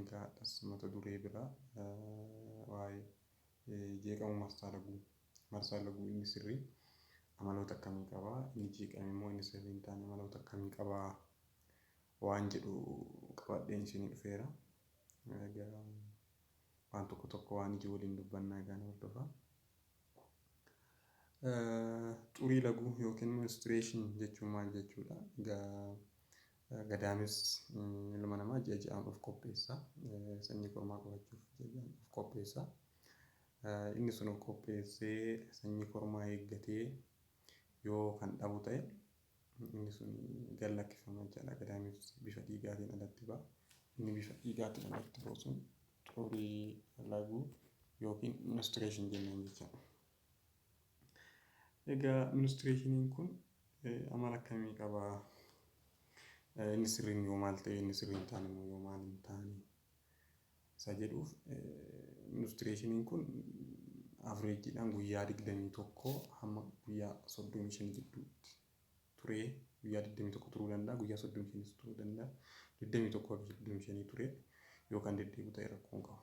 Egaa har'as mata duree biraa waa'ee jeeqamuu marsaa laguu, marsaan laguu inni sirrii amaloota akkamii qaba, inni jeeqame immoo inni sirrii hin taane amaloota akkamii qaba waan jedhu qabadheen isinii dhufeera. Egaa waan tokko tokko waan iji waliin dubbannaa egaa na hordofaa. Xurii laguu yookiin menstruation jechuun maal jechuudha? Egaa Gadaanis ilma namaa ji'a ji'aan of qopheessa. Sanyii kormaa qabachuuf ji'a ji'aan of qopheessa. Inni sun of qopheessee sanyii kormaa eeggatee yoo kan dhabu ta'e inni sun gad lakkifama jechaadha. Gadaanis bifa dhiigaatiin alatti ba'a. Inni bifa dhiigaatiin alatti ba'u sun xurii laguu yookiin menstruation jennaan jechaadha. Egaa ministreeshiniin kun amala akkamii qaba? Inni sirriin yoo maal ta'e, inni sirrii hin taane immoo yoo maal hin taane? Isa jedhuuf ministreeshiniin kun avreejiidhaan guyyaa 21 hamma guyyaa 35 gidduutti turee guyyaa 21 turuu danda'a, guyyaa 35 turuu danda'a, 21 hanga 35 turee yoo kan deddeebi'u ta'e rakkoo hin qabu.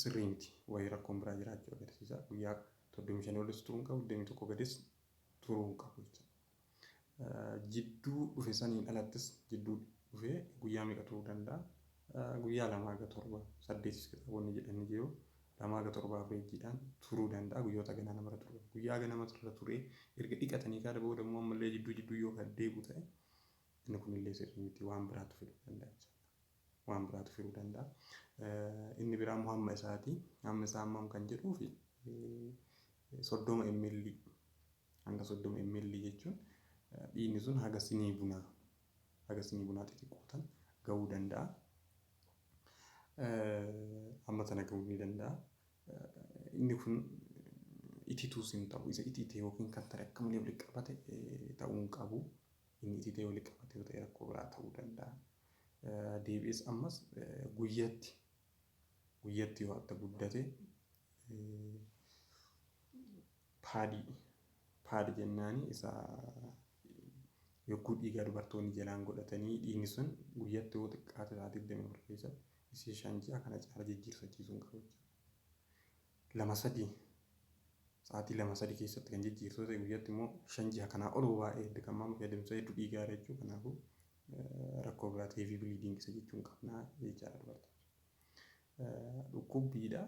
sirrii miti. Wayii rakkoon biraa jiraachuu agarsiisa. Guyyaa 35 olis turuu hin qabu, 21 gadis turuu hin qabu jecha. Jidduu dhufe saniin alattis jidduu dhufe guyyaa meeqa turuu danda'a? Guyyaa lama haga torba, saddeetis kitaabonni jedhan ni jiru. Lama haga torba avreejiidhaan turuu danda'a guyyoota haganaa namarra turuu danda'a. Guyyaa hagana matarra turee erga dhiqatanii kaada booda immoo ammallee jidduu jidduu yoo kan deebi'u ta'e inni kunillee sirrii miti waan biraatu fiduu danda'a jechaadha. waan biraatu firuu danda'a. Inni biraa immoo hamma isaati. Hamma isaa hammam kan jedhuuf soddoma ml hanga soddoma ml jechuun dhiigni sun haga sinii bunaa haga sinii bunaa xixiqqoo tan gahuu danda'a. Amma sana gahuu ni danda'a. Inni kun itituus hin ta'u. Isa itite yookiin kan ta'e akka malee walitti qabate ta'uu hin qabu. Inni itite walitti qabate yoo ta'e rakkoo biraa ta'uu danda'a. deebi'es ammas guyyatti guyyatti yoo atta guddate paadii paadi jennaani isa yogguu dhiigaa dubartoonni jalaan godhatanii dhiigni sun guyyatti yoo xiqqaate isaa 24 keessatti isii shan ji'a kana caala jijjiirsachiisuu hin qabu jechuudha. Lama sadii sa'aatii lama sadii keessatti kan jijjiirsu ta'e guyyatti immoo shan ji'a kanaa ol baay'ee dirqamaa miti adeemsa hedduu dhiigaa irra jechuudha. Kanaafuu rakkoo biraatti heavy bleeding isa jechuun qabna jechaadha dubartoota. Dhukkubbiidha.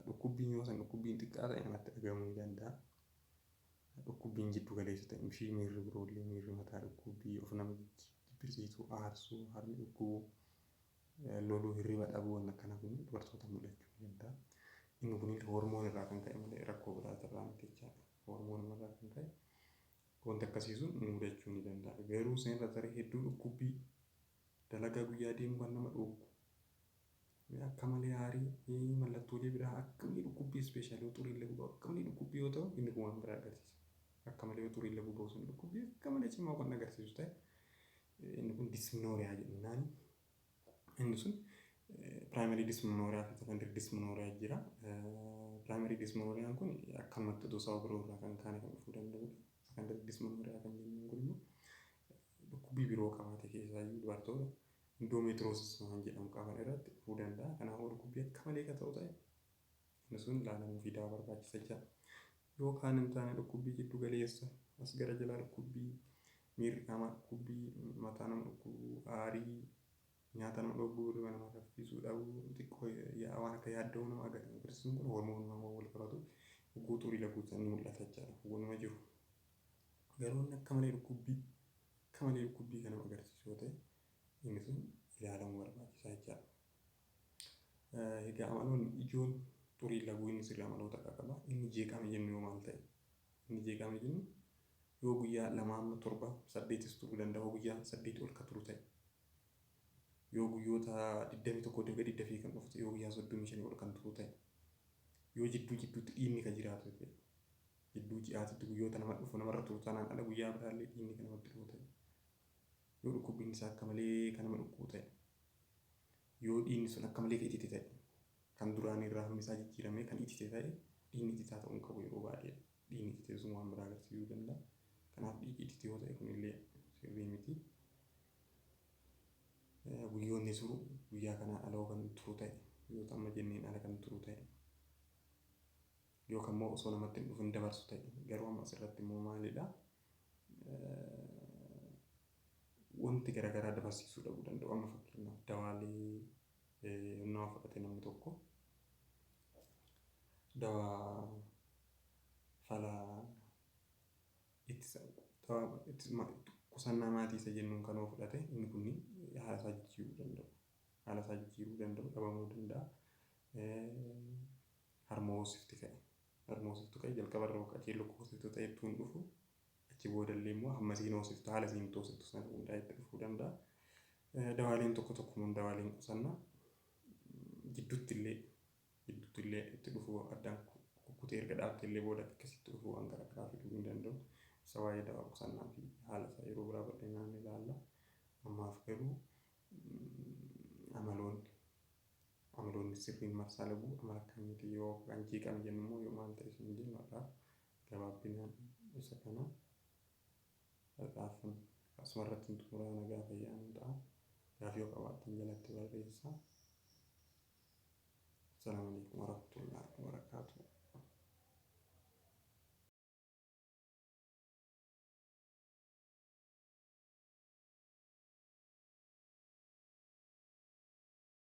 Dhukkubbiin yoo san dhukkubbiin xiqqaa ta'e namatti dhaga'amuu ni danda'a. Dhukkubbiin jiddu galeessa ta'e ishii miirri biroollee miirri mataa dhukkubbii of nama jibbisiisuu aarsuu harmi dhukkubuu loluu hirriba dhabuu waan akkana kun dubartoota mul'achuu ni danda'a. Inni kun hormoon irraa kan ka'e malee rakkoo biraati irraa miti jechaadha. Hormoon irraa kan ka'e Wanti akkasii sun nu mudachuu ni danda'a. Garuu san irra taree hedduu dhukkubbii, dalagaa guyyaa deemuu kan nama dhooggu, akka malee aarii, mallattoolee biraa akka malee dhukkubbii ispeeshaal yoo xuriillee gubaa akka malee dhukkubbii yoo ta'u inni kun waan biraa agarsiisa. Akka malee yoo xuriillee gubaa sun dhukkubbii akka malee cimaa kan agarsiisu ta'e inni kun disnooriyaa jennaani. Inni sun primary dysmenorrhea fi secondary dysmenorrhea jira. Primary dysmenorrhean kun akkanumatti utuu sababa biroo irraa kan kaane kan dhufuu danda'udha. Secondary dysmenorrhea kan jennuun kun immoo dhukkubbii biroo qabaate keessaa iyyuu dubartoota endometriosis waan jedhamu qaban irratti dhufuu danda'a. Kanaafuu dhukkubbii akka malee kan ta'u ta'e Inni sun laalamuu fi dawaa barbaachisa jira. Yoo kaan hin taane dhukkubbii jiddu galeessa, as gara jalaa dhukkubbii, miirri qaamaa dhukkubbii, mataa nama dhukkubuu, aarii, nyaata nama dhogguu, hirriba namaa saffiisuu dhabuu, xiqqoo yaa'a waan akka yaadda'uu nama agarsiisun kun hormoonumaan waan wal qabatu hogguu xurii laguusan ni mul'ata jechaadha. Waanuma jiru. Garuu inni akka malee dhukkubbii akka malee dhukkubbii kan nama agarsiisu yoo ta'e inni sun ilaalamuu barbaachisa jechaadha. Egaa amaloonni ijoon xuriin laguu inni sirri amaloota akka qaba. Inni jeeqame jennu yoo maal ta'e? Inni jeeqame jennu yoo guyyaa lama amma torba saddeetis turuu danda'a yoo guyyaa saddeetii ol ka turu ta'e. Yoo guyyoota 21 dibga didda fi kan dhufu ta'e yoo guyyaa 35 ol kan turu ta'e. Yoo jidduu jidduutti dhiinni ka jiraatu ta'e. Jidduu ji'aatitti guyyoota nama dhufu namarra turu tanaan ala guyyaa biraallee dhiinni kan namatti dhufu ta'e. Yoo dhukkubbiin isaa akka malee kan nama dhukkubu ta'e. Yoo dhiigni sun akka malee ka itite ta'e, kan duraanii irraa hammi isaa jijjiiramee kan itite ta'e, dhiigni ititaa ta'uu hin qabu yeroo baay'ee. Dhiigni itite sun waan biraa agarsiisuu danda'a. Kanaaf dhiigi itite yoo ta'e kun illee sirrii miti. Guyyoonni turu, guyyaa kanaan ala yoo kan turu ta'e, guyyoota amma jenneen ala kan turu ta'e, yookaan immoo osoo namatti hin dhufin dabarsu ta'e, garuu amma asirratti immoo maalidha? wanti gara garaa dabarsiisuu dhabuu danda'u. Amma fakkeenyaaf dawaalee nama fudhate namni tokko dawaa fala ittisa dawaa ittisa qusannaa maatii isa jennuun kan fudhate inni kun haala isaa jijjiiruu danda'u. Haala isaa jijjiiruu danda'u dhabamuu danda'a. Harma hoosifti ka'e Harma hoosiftu qa'i, jalqaba irra hooqa keelloo akka hoosiftu ta'e ittuu hin dhufu. Achi booda illee immoo hamma isiin hoosiftu haala isiin itti hoosiftu sana hundaa'e itti dhufuu danda'a. Dawaaleen tokko tokko immoo dawaaleen qusanna jidduutti illee jidduutti illee itti dhufuu addaan kukkutee erga dhaabte illee booda akkasitti dhufuu waan gara garaa fiduu hin danda'u. Isa waa'ee dawaa qusannaa fi haala isaa yeroo biraa bal'inaan ilaalla. Ammaaf garuu amaloonni Amaloonni sirriin marsaa laguu amala akkamiiti? Yoo kan jeeqame jennu immoo yoo maal ta'e isiniin jennu har'aaf gabaabbinaan isa kana har'aafan asuma irrattin xumuraa nagaa fayyaa nuu ta'aa. Gaafii yoo qabaattan jalatti barreessaa. Assalaamu alaikum warahmatullahi wabarakaatuh.